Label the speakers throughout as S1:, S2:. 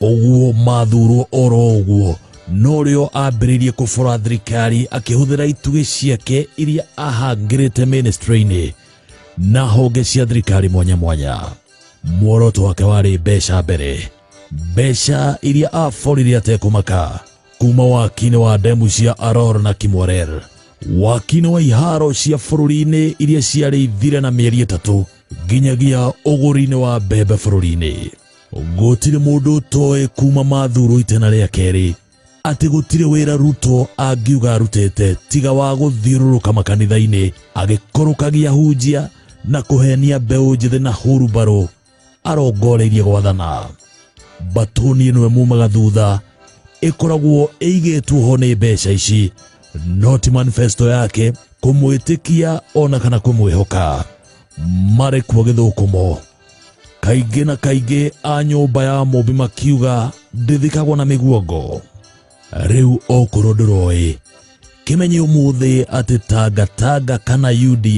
S1: ũguo mathurwo oro ũguo no rĩo ambĩrĩirie kũbora thirikari akĩhũthĩra itugĩ ciake iria ahangĩrĩte ministry-inĩ na honge cia thirikari mwanya mwanya muoroto wake warĩ mbeca mbere mbeca iria aborire atekũmaka kuma wakinĩ wa ndemu cia aror na kimwarer wakinĩ wa iharo cia bũrũri-inĩ iria ciarĩ ithire na mĩeri ĩtatũ nginyagia ũgũri-inĩ wa mbembe bũrũri-inĩ gũtirĩ mũndũ ũtoĩ kuma mathuru itena rĩa kerĩ atĩ gũtirĩ wĩra ruto angiuga arutĩte tiga wa gũthiũrũrũka makanitha-inĩ agĩkũrũkagia hunjia na kũhenia mbeũ njĩthĩ na hurubarũ arongoreirie gwathana mbatũni ĩno ĩmumaga thutha ĩkoragwo ĩigĩtwo ho nĩ mbeca ici no ti manifesto yake kũmwĩtĩkia ona kana kũmwĩhoka marĩ kuo gĩthũkũmo kaingĩ na kaingĩ a nyũmba ya mũmbi makiuga ndĩthikagwo na mĩguongo rĩu okorwo ndũroĩ kĩmenye ũmũthĩ atĩ tangatanga kana uda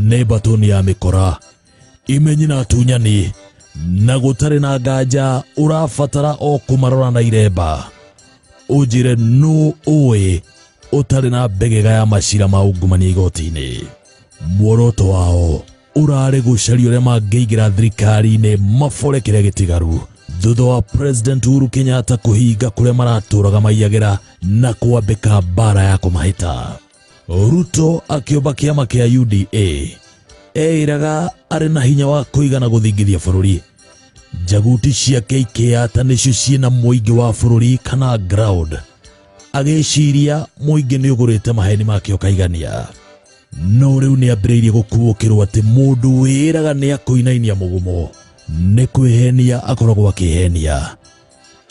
S1: nĩ mbatoni ya mĩkora imenyi na atunyani na gũtarĩ na nganja ũrabatara o kũmarora na iremba ũnjĩre nũ ũĩ ũtarĩ na mbegega ya macira ma ungumania igoti-inĩ muoroto wao ũrarĩ gũcaria ũrĩa mangĩingĩra thirikari-inĩ mabore kĩrĩa gĩtigaru thutha wa president uhuru kenyatta kũhinga kũrĩa maratũraga maiyagĩra na kwambĩka mbara ya kũmahĩta ruto akĩũmba kĩama kĩa uda eĩraga arĩ na hinya wa kũigana gũthingithia bũrũri njaguti ciake ikĩyata nĩcio ciĩ na mũingĩ wa bũrũri kana ground agĩciria mũingĩ nĩ ũgũrĩte maheni make ũkaigania no rĩu nĩ ambĩrĩirie gũkuũkĩrwo atĩ mũndũ wĩĩraga nĩ akũinainia mũgumo nĩ kwĩhenia akoragwo akĩhenia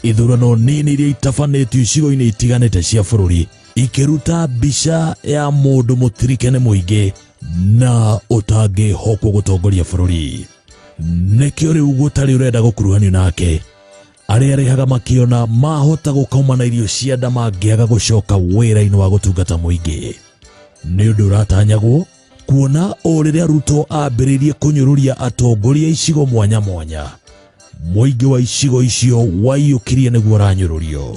S1: ithurano nini iria itabanĩtio icigo-inĩ itiganĩte cia bũrũri ikĩruta mbica ya mũndũ mũtirike nĩ mũingĩ na ũtangĩhokwo gũtongoria bũrũri nĩkĩo rĩu gũtarĩ ũrenda gũkuruhanio nake arĩa arĩhaga makĩona mahota gũkoma na irio cia nda mangĩaga gũcoka wĩra-inĩ wa gũtungata mũingĩ nĩ ũndũ ũratanyagwo kuona o rĩrĩa ruto ambĩrĩirie kũnyũrũria atongoria a icigo mwanya mwanya mũingĩ wa icigo icio waiyũkirie nĩguo ũranyũrũrio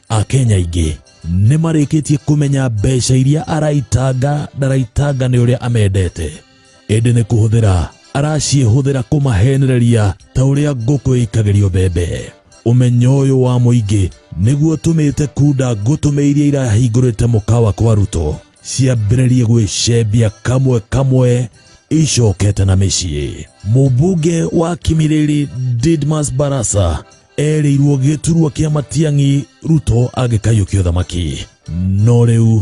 S1: akenya aingĩ nĩ marĩkĩtie kũmenya mbeca iria araitanga ndaraitanga nĩ ũrĩa amendete ĩndĩ nĩ kũhũthĩra araciĩhũthĩra kũmahenereria ta ũrĩa ngũkũ ĩikagĩrio mbembe ũmenyo ũyũ wa mũingĩ nĩguo tũmĩte kunda ngũtũme iria irahingũrĩte mũkawa kwa ruto ciambĩrĩrie gwĩcembia kamwe kamwe icokete na mĩciĩ mũmbunge wa kimirĩri didmas barasa erĩirwo gĩturwa kĩa matiang'i ruto angĩkaiyũkia ũthamaki no rĩu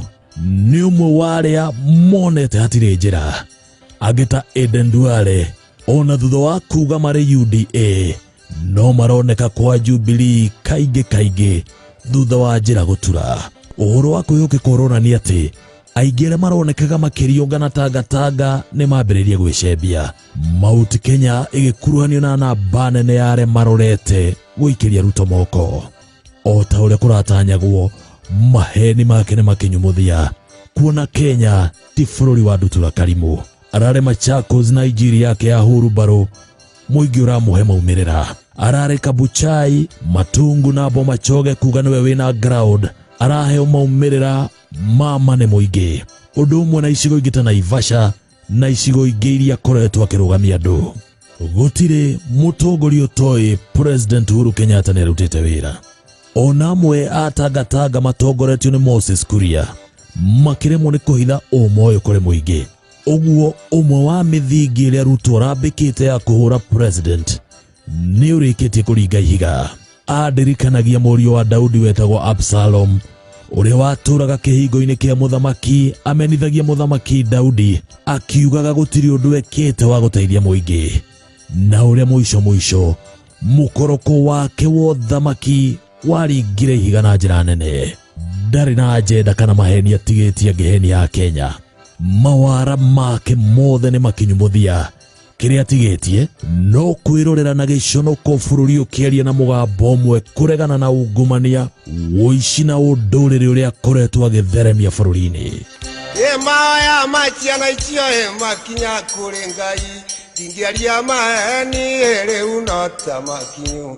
S1: nĩ ũmwe wa arĩa monete hatirĩ njĩra angĩ ta eden duale ona thutha wa kuga marĩ uda no maroneka kwa jubilii kaingĩ kaingĩ thutha wa njĩra gũtura ũhoro wa kwĩhokeka ũronania atĩ aingĩ arĩa maronekaga makĩriũngana tangatanga nĩ mambĩrĩria gwĩcembia Mount Kenya ĩgĩkuruhanio na namba nene ya arĩa marorete gũikĩria Ruto moko o ta ũrĩa kũratanyagwo maheni make nĩ makinyumuthia kuona Kenya ti bũrũri wa ndutura karimũ arare Machakos na injiri yake ya huru mbarũ mũingĩ ũramũhe maumĩrĩra arare Kabuchai Matungu na Bomachoge kuga nĩwe wĩna ground araheo maumĩrĩra ma mane mũingĩ ũndũ ũmwe na icigo ingĩ ta Naivasha na icigo ingĩ iria akoretwo akĩrũgamia andũ gũtirĩ mũtongoria ũtoĩ president uhuru kenyatta nĩ arutĩte wĩra ona amwe atangatanga matongoretio nĩ moses kuria makĩremwo nĩ kũhitha ũma ũyũ kũrĩ mũingĩ ũguo ũmwe wa mĩthingi ĩrĩa ruto arambĩkĩte ya kũhũra president nĩ ũrĩkĩtie kũringa ihiga andirikanagia mũriũ wa daudi wetagwo absalom ũrĩa watũraga kĩhingo-inĩ kĩa mũthamaki amenithagia mũthamaki daudi akiugaga gũtirĩ ũndũ ekĩte wa gũteithia mũingĩ na ũrĩa mũico mũico mũkoroko wake wa ũthamaki waringire ihiga na njĩra nene ndarĩ na ajenda kana maheni atigĩtie ngĩheni ya kenya mawara make mothe nĩ makinyu mũthia kĩrĩa tigĩtie no kwĩrorera na gĩconoko bũrũri ũkĩaria na mũgambo ũmwe kũregana na ungumania ũici na ũndũrĩrĩ ũrĩa akoretwo agĩtheremia bũrũri-inĩ ĩmaya
S2: maciana icio ĩmakinya kũrĩ ngai ndingĩaria maheni rĩu no ta makinyu